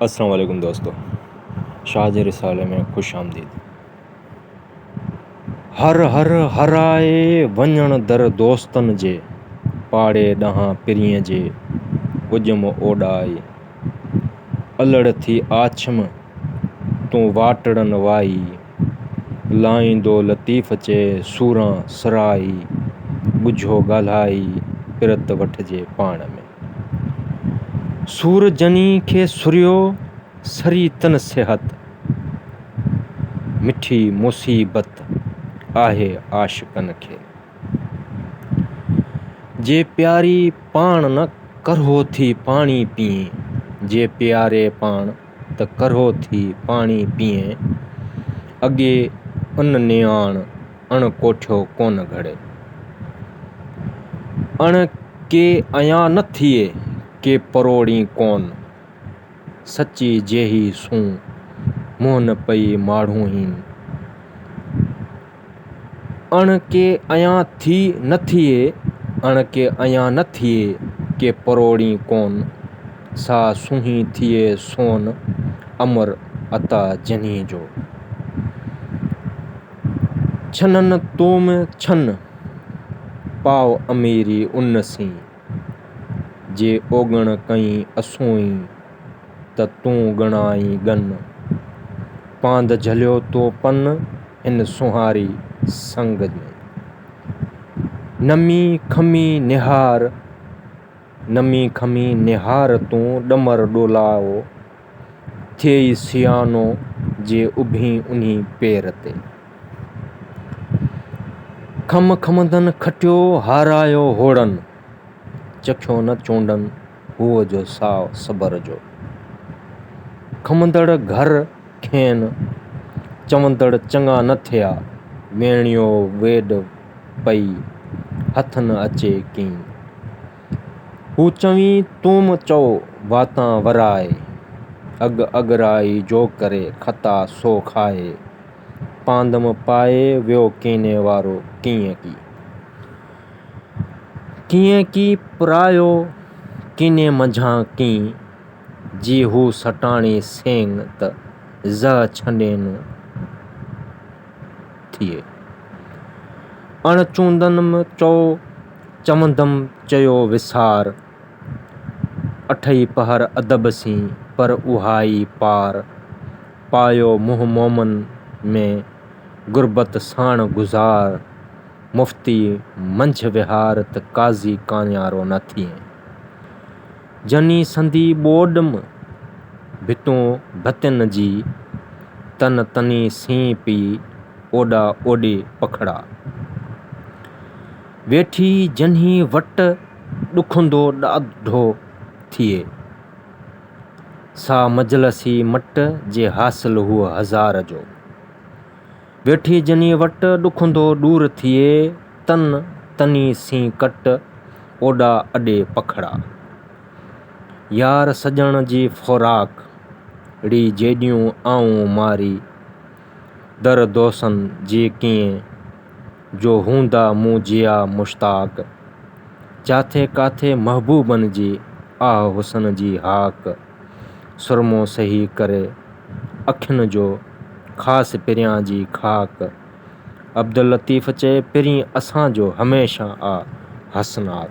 السلام عليڪم دوستو شاهه جي رسالي ۾ خوش آمديد هر هر هرائي وڃڻ در دوستن جي پاڙي ڏانهن پرينء جي اجم اوڏائي الڙ ٿي آڇم تون واٽڙن وائي لائيندو لطيف چي سوران سرائي ڳجهو ڳالهائي پرت وٺجي پاڻ ۾. سور جني کي سريو، سري تن صحت. مٺي مصيبت آهي عاشقن کي. جي پياري پاڻ نه ڪرهو ٿي پاڻي پيئين. جي پياري پاڻ نه ته ڪرهو ٿي پاڻي پيئين، اڳي ان نياڻ اڻ ڪوٺيو ڪونه گهڙي. اڻ ڪي ايان نه ٿئي ڪي پروڙين ڪون، سچي جيهي سون منهن نه پئي ماڙهونهين. اڻ ڪي ايان ٿي نه ٿئي، اڻ ڪي ايان نه ٿئي، ڪي پروڙين ڪون، سا سونهين ٿئي سون، امر عطا جنهي جو. ڇنن توم ڇن، پاء اميري ان سين، جي اوڳڻ ڪئين اسونئي، ته تون ڳڻائين ڳن، پاند جهليو تو پن، ان سونهاري سنگ ۾. نمي کمي نهار، نمي کمي نهار تون ڏمر ڏولائو، ٿئي سيانو جي اڀين انهي پير تي. کم کمندن کٽيو هارايو هوڙن، چکيو نه چونڊن هوء جو ساء صبر جو. کمندڙ گهر کين چوندڙ چڱا نه ٿيا، ويڻيو ويڏ پئي هٿ نه اچي ڪين. هو چوين توم چئو واتان ورائي، اڳ اڳرائي جو ڪري خطا سو کائي، پاندم پائي ويو ڪيني وارو ڪيئن ڪي. ڪيئن ڪي پرايو ڪيني منجهان ڪين. جي هو سٽاڻي سين ته زه ڇنڊين ٿئي. اڻ چوندنم چو چوندم چيو وسار. اٺئي پهر ادب سين پر اهائي پار. پايو منهن مومن ۾، غربت ساڻ گذار. مفتي منجهه وهار ته قاضي ڪاڃارو نه ٿئي. جني سندي ٻوڏ م ڀتون ڀتين جي، تن تني سين پئي اوڏا اوڏي پکڙا. ويٺي جني وٽ ڏکندو ڏاڍو ٿئي، سا مجلسي مٽ جي حاصل هو هزار جو. ويٺي جني وٽ، ڏکندو ڏور ٿئي تن، تني سين ڪٽ، اوڏا اڏي پکڙا. يار سڄڻ جي فوراڪ، ڙي جيڏيون آئون ماري، در دوسن جي ڪيئن، جو هوندا مون جيا مشتاق، جاٿي ڪاٿي محبوبن جي، آه حسن جي هاڪ. سرمو سهي ڪري اکين جو خاص پريان جي خاڪ عبداللطيف چئي پرين اسان جو هميشه آ حسناڪ.